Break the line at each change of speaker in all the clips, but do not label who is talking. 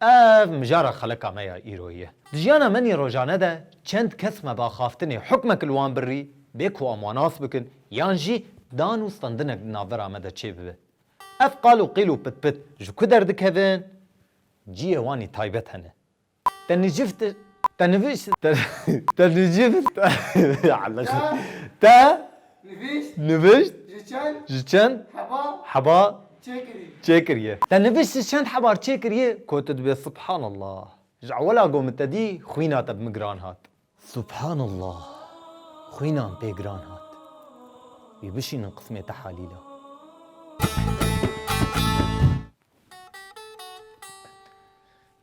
Ev mijara xelika me ya îro ye. Di jiyana me nê rojane de çend kes me bi axaftinê hukmek li wan birî bê ku em wan as bikin yan jî dan û stendinek di navbera me de çê bibe. Ev qal û qîl û pitpit ji ku derdikevin? Cihê wan ê taybet hene. Te niciv te te nivîst te te niciv te te Nivîşt ji çend heba çêkiriye? Te nivîşt ji çend hebar çêkiriye? Ku tu dibê Subhanallah. Ji ewela ku min te dî xwîna te bi min giran hat. Subhanallah. Xwîna min pê giran hat. Wî bişînin qismê tehalîla.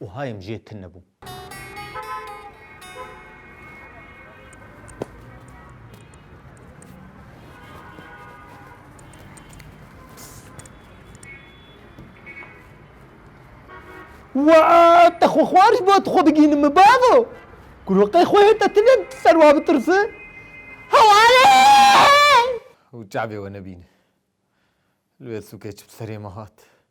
Û hayêm jê tune bû. Wa te xwe xwarî bo tu xwe bigînin min bavo. Guroqê xwe hê te tune ser wa bitirse. Hewalê! Û çavê we nebîne. Li wê sûkê çi bi serê me hat.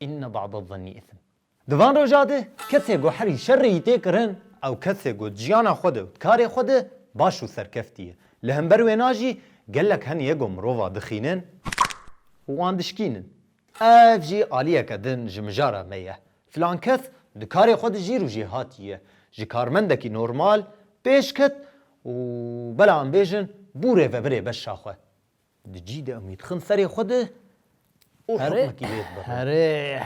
Inne ba'd'e'z-z'enni ithm. Di van roja de kesê ku herî şerê yî tê kirin, ew kesê ku di jiyana xwe de û di karê xwe de baş û serkeftî ye. Li hember wêna jî gelek hen ye ku mirova dixînin û wan dişkînin. Ev jî aliyeke din ji mijara me ye. Filan kes di karê xwe de jîr û jêhatî ye. Ji karmendekî normal pêş ket û bela em bêjin bû rêvevirê beşa xwe. Di cî de em dixin serê xwe de û hikmekî lê dibirin. Herê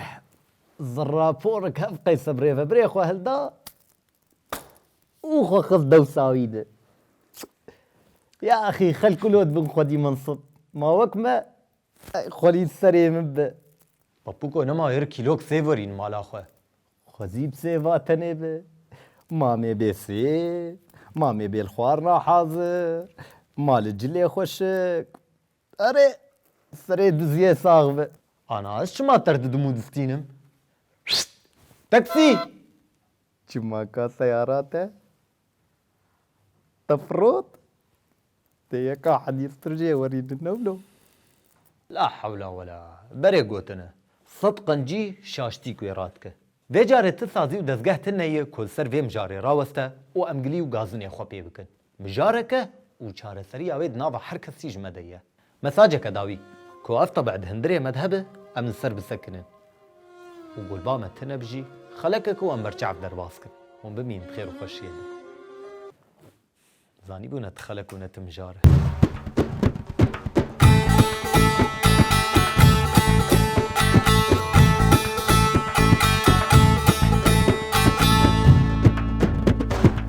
ziraporik hev qeyse bi rêvebirê xwe hilda û xwe xist dewsa wî de. Ya exî xelk ku lo dibin xwedî minsib. Ma wek me xwelî serê min be. Papuko nema ir kîlok sêv werîn mala xwe. Xwezî bi sê va tenê bi. Mamê bê sê, mamê bê li xwarina hazir, ma li cilê xwe şik. Erê, serê diziyê sax bi. Ana ez çima ter didim û distînim? Taksî! Çima ka seyara te? Efrot, dê yeka Henîf Pircê werî li Newlo. La hewla wela. Berê gotine. Sed qencî şaştîk wê ra dike. Vê carê ti sazî û dezgeh ti neyê ku li ser vê mijarê raweste û em gilî û gazinê xwe pê bikin. Mijareke û çareseriya wê di nava her kesî ji me de ye. Mesajeke dawî ku ev tebe di hundirê me de hebe em li ser bisekinin û ku li ba me tune bi jî xeleke ku em berçav derbas kin. Hûn bimînin bi xêr û xweşiyê de. Zanîbû ne ti xelek û ne ti mijar e.